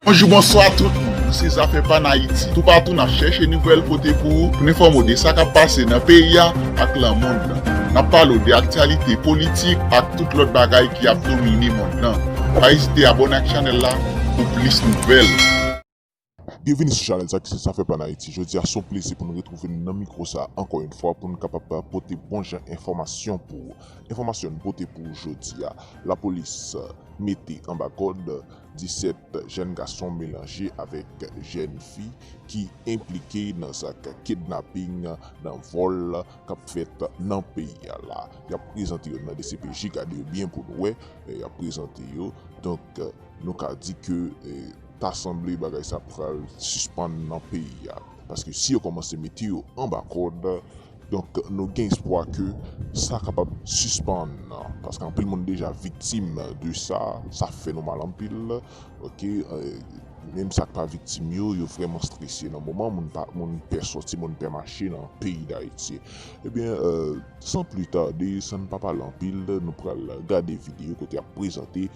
Bonjou bonswa tout moun nou se zafè pa n ayiti toupatou nap chèche nouvèl pote pou ou pou n enfòme w de sa kap pase nan peyi a ak lan mond lan nap pale w de aktyalite politik ak tout lòt bagay ki ap domine mond lan pa ezite abòne ak chanèl la pou plis nouvèl. Byenvini sou chanèl sa ki se zafè pa n ayiti jodi a son plezi pou n retwouve n nan mikwo sa ankò yon fwa pou n kapab pote bon jan enfòmasyon pou ou enfòmasyon n pote pou ou jodi a lapolis mete anba kòd 17 jèn gason melanje avèk jèn fi ki enplike nan zak kidnaping nan vòl kap fèt nan peyi a la yap prezante yo nan dcpj gade yo byen pou nou wè lè yap prezante yo donk nou ka di ke ta sanble bagay sa pral sispann nan peyi a paske si yo kòmanse mete yo anba kòd Donk nou gen espwa ke sa kapab sispann paske anpil moun deja viktim de sa, sa fè nou mal anpil ok, menm sa k pa viktim yo, yo vrèman strese nan moman moun pa moun pè sòti moun pè mache nan peyi Dayiti. Ebyen san pli tade san n pa pale anpil nou pral gade videyo kote y ap prezante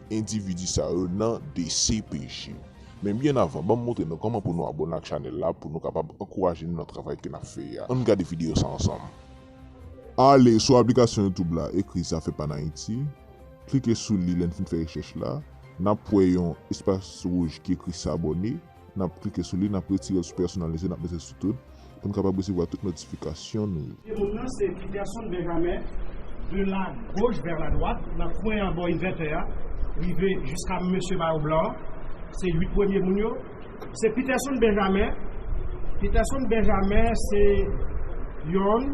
endividi sa yo nan dcpj. Men byen avan banm montre nou kòman pou nou abòne ak chanèl la pou nou kapab ankouraje nou nan travay ke nap fè a ann gade video sa ansanm. Ale sou aplikasyon youtube la ekri zafè pa n ayiti klike sou li lèn fin fè rechèch la nap wè yon espas wouj ki ekri sabòne nap klike sou li nap retirel sou pèsonalize nap mete sou tout pou nou kapab resevwa tout notifikasyon nou yo. Pye moun nan se Peterson Benjamin, de la gauche vers la droite, nan kwen an bò invètè a, rive jiska mesye mayo blan an, se 8 premye moun yo, se Peterson Benjamin, Peterson Benjamin se yonn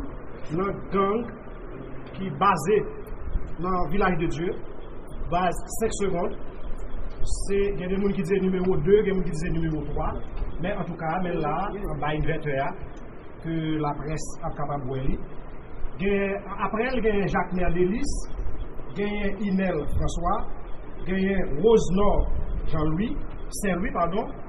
nan gang. ki baze nan vilaj de dye baz 5 segond se gen de moun ki di se nimewo 2 gen moun ki di se nimewo 3 men antouka men la anba invètè a ke laprès ap kapab wè li gen aprèl gen jakmè delis genyen inèl franswa genyen woznò jan lwi sen lwi padon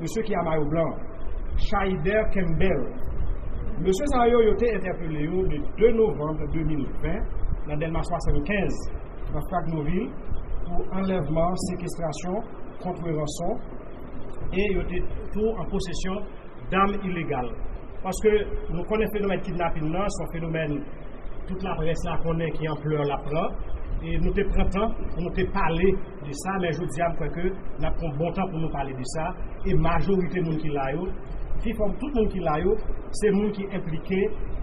Mesye ki a mayo blan an, Shaider Kembell. Mesye sa yo, yo te entèpele yo le 2 novanm 2020 nan Dèlma 75, nan Fragnovil, pou anlèvman, sekestrasyon, kontre ranson, e yo te tou an posesyon dam ilegal. Paske nou konnen fenomèn kidnapin nan, se yon fenomèn tout laprès la konnen ki anplè l ap pran, e nou te pran tan pou nou te pale. de sa men jodi a m kwè ke n ap pran bon tan pou nou pale de sa e majorite moun ki la yo pi fò tout moun ki la yo se moun ki enplike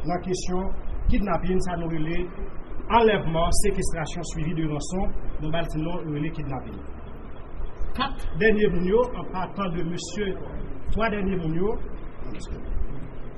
nan kesyon kidnapin sa nou rele anlèvman sekestrasyon swivi de ranson nou ba l ti non nou rele kidnapin 4 dènye moun yo an patan de mesye 3 dènye moun yo.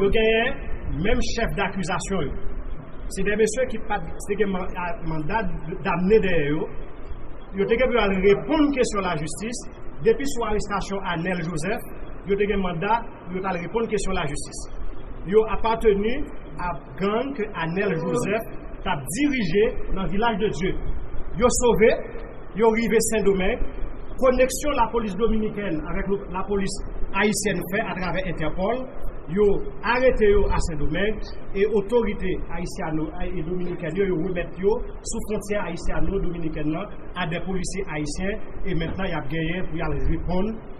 Yo genyen menm chèf dakizasyon yo. Se de mesye ki pat se gen manda damne dèyè yo. Yo te gen pou yo al reponn kesyon lajistis. Depi sou arestasyon Anèl Jozèf, yo te gen manda pou yo t al reponn kesyon lajistis. Yo apateni a. Gang ke Anel Joseph tap dirije nan Vilaj de Dye yo sove, yo rive Sendomeng, koneksyon lapolis dominikèn avèk lapolis ayisyèn fè atravè Entèpòl, yo arete yo a Sendomeng e otorite ayisyano e dominikèn yo, yo remèt yo sou fwontyè ayisyano-dominikèn nan a dè polisye ayisyen e mentnan yap genyen pou yal reponn.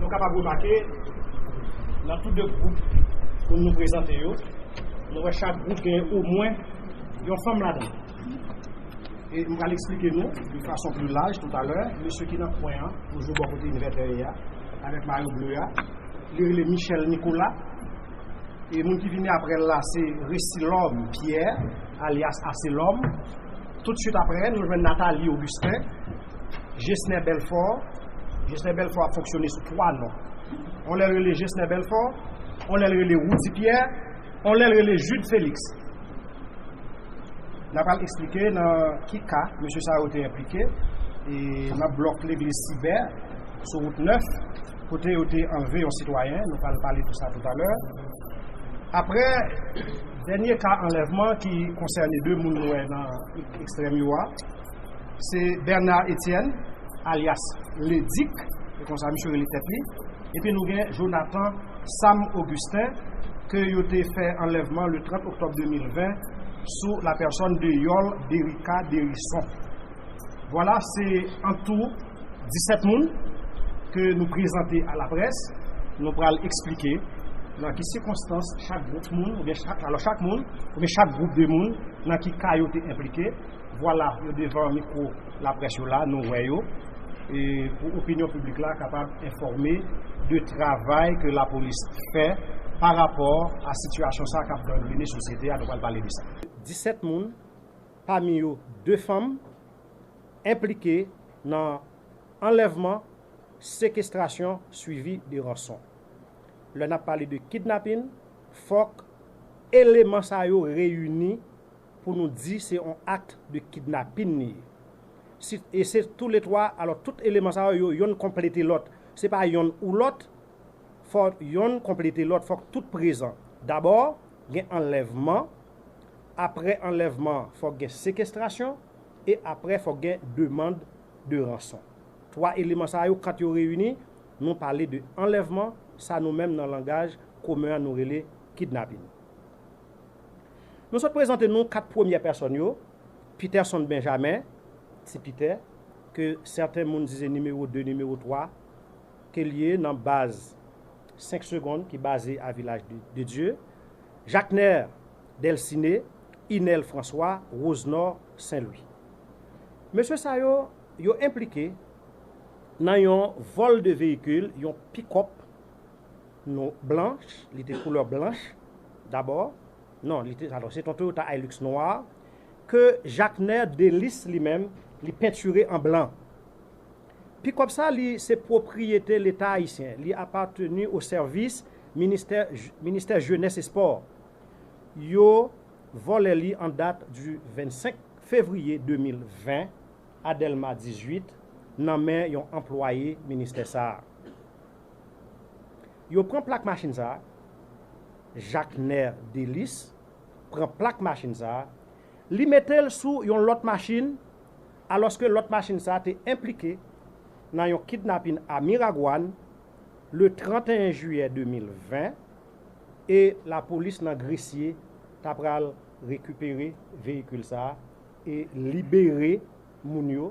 Nou kapab remake nan tout de gwoup pou nou prezante yo, nou wè chak gwoup gen omwen yon fanm ladan. E m pral eksplike nou de fason pli laj toutalè, mesye ki nan kwen an, toujou bò kote Inverter a, avèk mayo ble a, li rele Michel Nicolas, e moun ki vini aprè l la se Resilhomme Pierre, alyas Aselòm. Toutswit aprè, nou jwenn Nathalie Augustin, Gesner Belfort, Gesner Belfort ap fonksyone sou 3 non. On lè l rele Gesner Belfort, on lè l rele Roudy Pierre, On lè l rele Jude Felix. N apral esplike nan ki ka mesye sa yo te enplike e nan blòk legliz Sibè sou wout 9 kote yo te anlve yon sitwayen, nou pral pale de sa toutalè. Aprè dènye ka anlèvman ki konsène 2 moun nou wè nan ekstrèm yo a, se Bernard Etienne alyas Ledik, se konsa misye rele tèt li. Epi nou gen Jonathan Sam Augustin ke yo te fè anlèvman le 30 oktòb 2020 sou la pèsòn de Yol Derica Derison. Vwala se an tou 17 moun ke nou prezante a la près, nou pral eksplike nan ki sikonstans chak gwoup moun oubyen chak alò chak moun oubyen chak gwoup de moun nan ki ka yo te enplike. Vwala yo devan mikwo. Laprès yo la, nou wè yo, e pou opinyon piblik la kapab enfòme de travay ke lapolis fè pa rapò a sitiyasyon sa a k ap gangrene sosyete a, nou pral pale de sa. 17 moun, pami yo 2 fanm, enplike nan anlèvman, sekestrasyon swivi de ranson. Lè n ap pale de kidnapin, fòk eleman sa yo reyini pou nou di se yon acte de kidnapin li ye. Si e se tou le 3, alò tout eleman sa yo, yo yonn konplete lòt. Se pa yonn ou lòt, fò yonn konplete lòt, fòk tout prezan. Dabò, gen anlèvman, aprè anlèvman an, fòk gen sekestrasyon, e aprè fòk gen demand de ranson. 3 eleman sa yo kant yo reyini, nou pale de anlèvman, sa nou menm nan langaj komen an nou rele kidnapin. Nou sot prezante nou 4 premyè pèsòn yo, Peterson Benjamin, Ti Pitè, ke sèten moun di se nimewo 2, nimewo 3, ke l ye nan baz 5 segond ki baze a Vilaj de Dye, Jacner Delciné, Inel François, Rosenor Saint Louis. Mesye sa yo, yo enplike nan yon vòl 2 veyikil, yon pick-up, nou blanch, li te koulè blanch dabò, non li te, alò se ton Toyota Hilux nwa ke Jacquener Délice li menm li pentire an blan. Pikòp sa li se pwopriyete leta ayisyen, li apateni o sèvis ministè ministè jenès e spò. Yo vòlè li an dat di 25 fevriye 2020 a Dèlma 18 nan men yon anplwaye ministè sa. Yo pran plak machin sa a, Jakner Delis pran plak machin sa a, li mete l sou yon lòt machin alòske lòt machin sa a te enplike nan yon kidnapin a Miragwàn le 31 jiyè 2020 e lapolis nan Gresye ta pral rekipere veyikil sa a e libere moun yo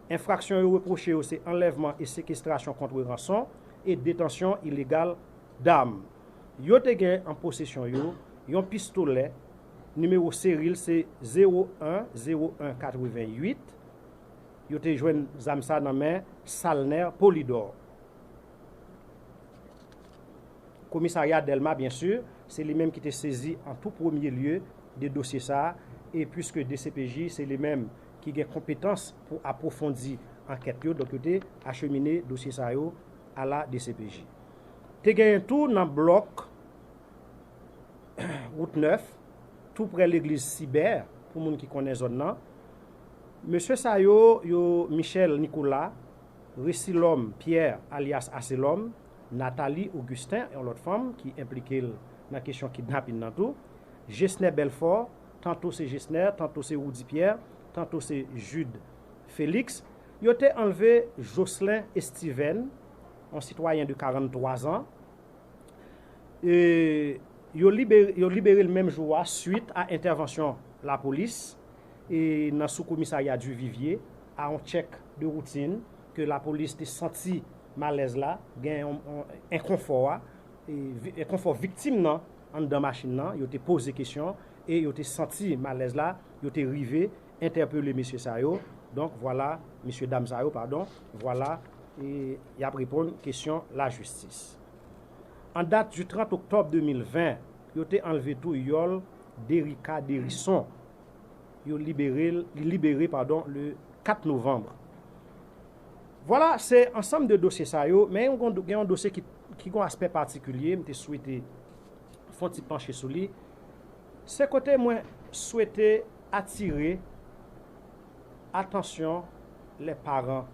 Enfraksyon yo repwoche yo se anlèvman e sekestrasyon kontre ranson e detansyon ilegal dam. Yo te gen an posesyon yo yon pistolè, nimewo seri l se 01 01 88. Yo te jwenn zam sa nan men Salner Polydor. Komisarya Dèlma byen si, se li menm ki te sezi an tou premye lye de dosye sa e puiske dcpj se li menm ki gen konpetans pou apwofondi ankèt yo, donk yo te achemine dosye sa yo a la dcpj. Te genyen tou nan blòk wout 9, tou prè legliz Sibè, pou moun ki konnen zòn nan, mesye sa yo, yo Michel Nicolas, Resilòm Pierre alyas Aselòm, Nathalie Augustin, yon lòt fanm ki enplike l nan kesyon kidnapin nan tou, Gesner Belfort, tanto se Gesner, tanto se Roudy Pierre, tanto se Jude Felix, yo te anlve Jocelin Estiven, yon sitwayen de 43 zan, e yo libere l menm jou a swit a entèvansyon lapolis e nan sou komisarya Duvivier a yon tchèk de woutin ke lapolis te santi malèz la, gen yon enkonfò a, enkonfò viktim nan anndan machin nan, yo te poze kesyon e yo te santi malèz la, yo te rive entèpele mesye sa yo, donk vwala, mesye dam sa yo padon, vwala e y ap reponn kesyon lajistis. An dat du 30 oktòb 2020, yo te anlve tou yòl Derica Derison, yo libere l, li libere padon le 4 novanbre. Vwala, se ansanm de dosye sa yo, men yon gen yon dosye ki ki gen yon aspè patikilye, m te swete fè yon ti panche sou li, se kote mwen swete atire atansyon lè paran,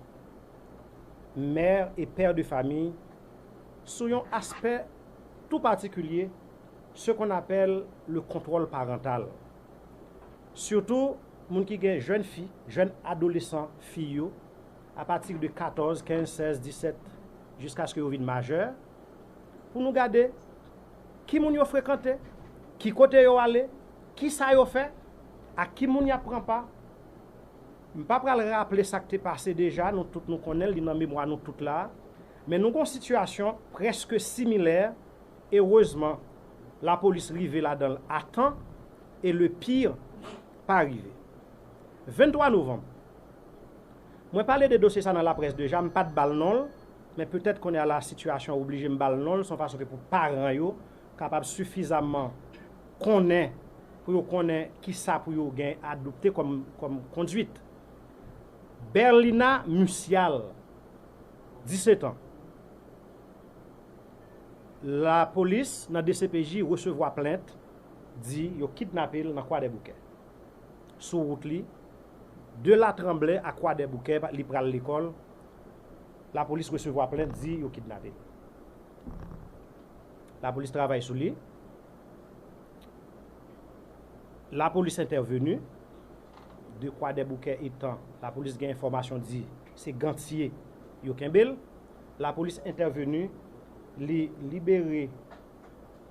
mère et père de famille, sou yon aspè tou patikilye, ce qu'on appelle le contrôle parental. Sitou moun ki gen jèn fi, jèn adolesan fi yo, apati de 14, 15, 16, 17, jiskaske yo vin majè, pou nou gade ki moun yo frekante, ki kote yo ale, ki sa yo fè, ak ki moun y ap pran pa. M pa pral raple sa k te pase deja, nou tout nou konnen l, li nan memwa nou tout la a. Men nou gon sitiyasyon prèske similè, erezman lapolis rive ladan l atan, E le pire pa rive. 23 novanm, Mwen pale de dosye sa nan laprès deja, m pa t ba l non l, men petèt kounye a la sitiyasyon an oblije m ba l non l, s on fason ke pou paran yo kapab sifizaman konnen pou yo konnen kisa pou yo gen adopte kòm konduit. Berlina Mucial, 17 an, Lapolis nan dcpj resevwa plent. di yo kidnape l nan Kwadèboukè. Sou wout li de Latranblè a Kwadèboukè li pral lekòl, lapolis resevwa plent di yo kidnape l. Lapolis travay sou li. Lapolis entèveni de Kwadèboukè etan lapolis gen enfòmasyon di se Gantye yo kenbe l. Lapolis entèveni li libere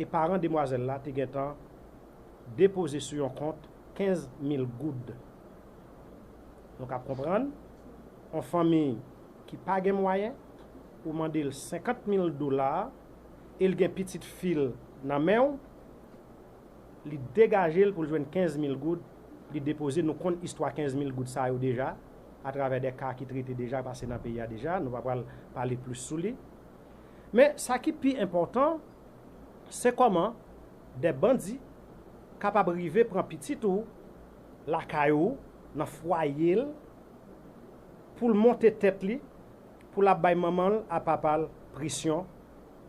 e paran demwazèl la te gentan depoze sou yon kont 15 mil goud. Nou kab konprann, yon fanmi ki pa gen mwayen, ou mande l 50 mil dola e l gen pitit fi l nan men w, li degaje l pou l jwenn 15 mil goud, li depoze, nou konn istwa 15 mil goud sa yo deja, atravè de ka ki trete deja, pase nan peyi a deja, nou pa pral pale plis sou li. Men, sa ki pi enpòtan, se kòman de bandi kapab rive pran pitit ou lakay ou, nan fwaye l, pou l monte tèt li, pou l ap bay manman l a papa l presyon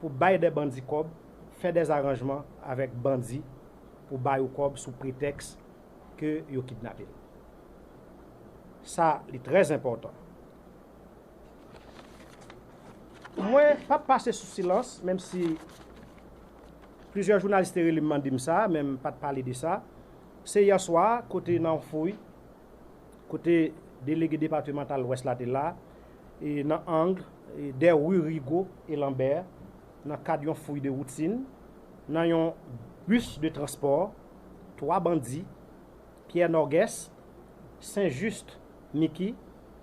pou bay de bandi kòb, fè de zaranjman avèk bandi pou bay ou kòb sou pretèks ke yo kidnape l. Sa li trè enpòtan. Mwen p ap pase sou silans, menm si plizyè jounalis te rele m mande m sa, men m pa t pale de sa. Se yè swa, kote nan yon fouy, kote delege depatimantal Lwès la te la, e nan ang dè ri Rigo e Lanbè, nan kad yon fouy de woutin, nan yon bis de transpò, twa bandi, Pyè Nògès, Sen Jis Miki,